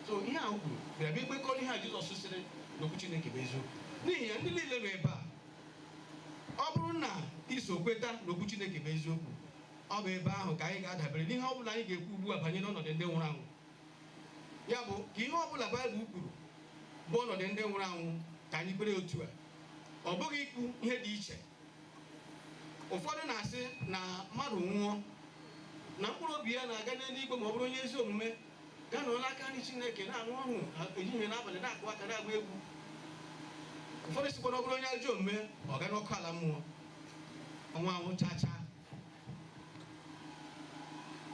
So, ihe a o kwuru bịara bịa ikwekọrọ ihe a Jizọs sịrị na Okwu Chineke bụ eziokwu. N'ihi ya, ndị niile nọ ebe a, ọ bụrụ na i so kweta na Okwu Chineke bụ eziokwu, ọ bụ ebe ahụ ka anyị ga-adabere n'ihe ọ bụla anyị ga-ekwu ugbu a banyere ọnọdụ ndị nwụrụ anwụ. Ya bụ, ka ihe ọ bụla Baịbụl kwuru bụ ọnọdụ ndị nwụrụ anwụ, ka anyị kwere otu a, ọ bụghị ikwu ihe dị iche. Ụfọdụ na-asị na mmadụ nwụọ, na mkpụrụ obi ya na-aga n'eluigwe ma ọ bụrụ onye ezi omume, Gaa nọrọ n'aka nri Chineke, na-aṅụ ọṅụ ehihie na abalị, na-akụ aka, na-agba egwu. Ụfọdụ sịkwa na ọ bụrụ onye ajọ omume, ọ gaa n'ọkụ ala mmụọ, ọnwụ anwụ chaa chaa.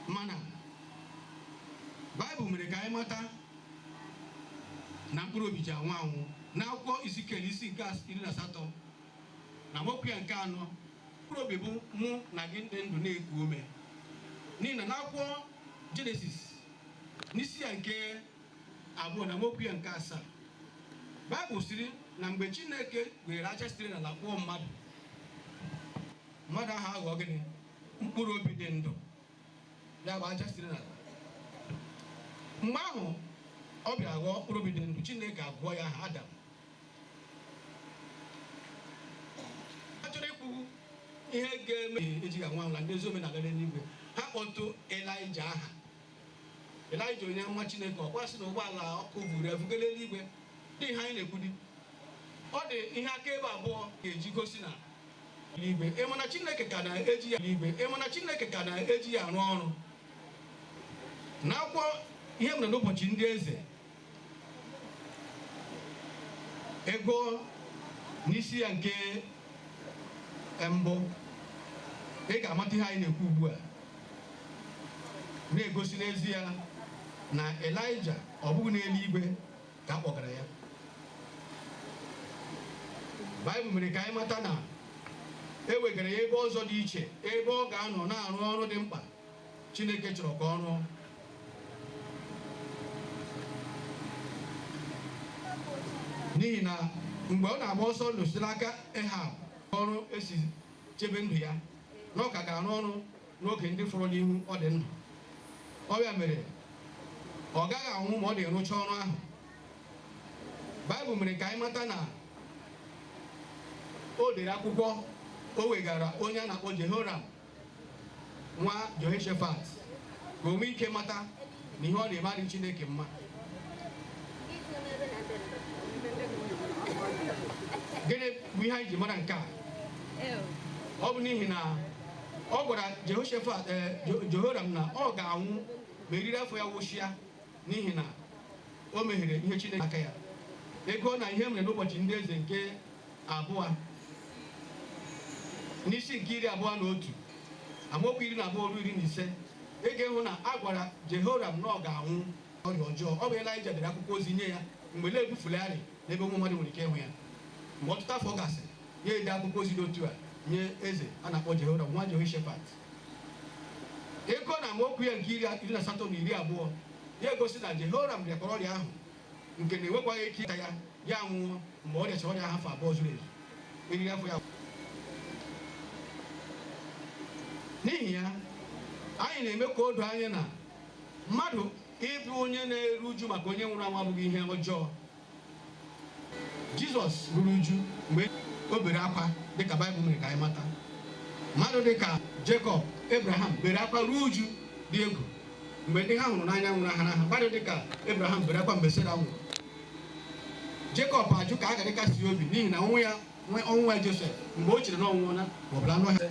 Mana Baịbụl mere ka anyị mata na mkpụrụ obi ji anwụ anwụ. N'akwụkwọ Izikiel isi nke iri na asatọ na amaokwu ya nke anọ Mkpụrụ obi bụ mụ na gị dị ndụ na-eku ume. N'ihi na n'akwụkwọ Jenesis, n'isi ya nke abụọ na amaokwu ya nke asaa, Baịbụl sịrị na mgbe Chineke weere aja sitere n'ala kpụọ mmadụ, mmadụ ahụ aghọọ gịnị? Mkpụrụ obi dị ndụ, ya bụ aja sitere n'ala. Mgbe ahụ ọ bịara ghọọ mkpụrụ obi dị ndụ, Chineke agụọ ya aha Adam. a chọrọ ikwu ihe ga-eme eji ga nwa na ndị ezi omume na-aga n'eluigwe ha kpọtụ elija aha elija onye amụma chineke ọ kwa a sị na ụgbọala ọkụ buru ya buga n'eluigwe dị ihe anyị na-ekwudi ọ dị ihe akaebe abụọ a ga-eji gosi na igwe ị ma na chineke ka na-eji ya igwe ị ma na chineke ka na-eji ya arụ ọrụ na akwụkwọ ihe e mere n'ụbọchị ndị eze Ị gụọ n'isi ya nke mbụ ị ga-amata ihe anyị na-ekwu ugbu a na-egosi n'ezie na Elaịja ọ bụghị n'eluigwe ka a kpọgara ya Baịbụl mere ka anyị mata na e wegara ya ebe ọzọ dị iche ebe ọ ga-anọ na-arụ ọrụ dị mkpa Chineke chọrọ ka ọ rụọ. N'ihi na mgbe ọ na-agba ọsọ ndụ site n'aka Ehab ọrụ e si chebe ndụ ya na ọ ka ga-arụ ọrụ n'oge ndị fọrọ n'ihu ọ dị ndụ ọ bụ ya mere ọ gaghị anwụ ma ọ dị rụcha ọrụ ahụ baịbụl mere ka anyị mata na o dere akwụkwọ o wegara onye a na-akpọ jehoram nwa Jehoshafat ka o nwee ike mata na ihe ọ na-eme adịghị Chineke mma gịnị bụ ihe anyị ji mara nke a ọ bụ n'ihi na ọ gwara Jehoshafat Jehoram na ọ ga-anwụ ma eriri afọ ya wụsịa n'ihi na o mehiere ihe Chineke aka ya ị gụọ na Ihe E Mere n'ụbọchị ndị eze nke abụọ n'isi nke iri abụọ na otu amaokwu iri na abụọ ruo iri na ise, ị ga-ịhụ na a gwara Jehoram na ọ ga-anwụ ọrịa ọjọọ. Ọ bụ Elaịja dere akwụkwọ ozi nye ya mgbe ole e bufularị n'ebe ụmụ mmadụ nwere ike ịhụ ya. Mgbe ọtụtụ afọ gasịrị, ya ede akwụkwọ ozi dị otu a nye eze a na-akpọ Jehoram nwa Jehoshafat. Ị gụọ na amaokwu ya nke iri na asatọ na iri abụọ, ya egosi na Jehoram rịakwara ọrịa ahụ nke na-enwekwaghị ike ịta ya ya nwụọ mgbe ọ rịachara ọrịa afọ abụọ zuru ezu eriri afọ ya n'ihi ya anyị na-eme ka o doo anya na mmadụ ịbụ onye na-eru uju maka onye nwụrụ anwụ abụghị ihe ọjọọ jizọs ruru uju mgbe o bere akwa dịka baịbụl mere ka anyị mata mmadụ dịka jekọb abraham bere akwa ruo uju dị egwu mgbe ndị ha hụrụ n'anya nwụnahara ha mmadụ dịka Abraham bere akwa mgbe Sera nwụrụ Jekọb ajụ ka a ghara ịkasi ya obi n'ihi na ọnwụ nwa ya Josef mgbe o chere na ọ nwụọla ma ọ bụ na anụ ọhịa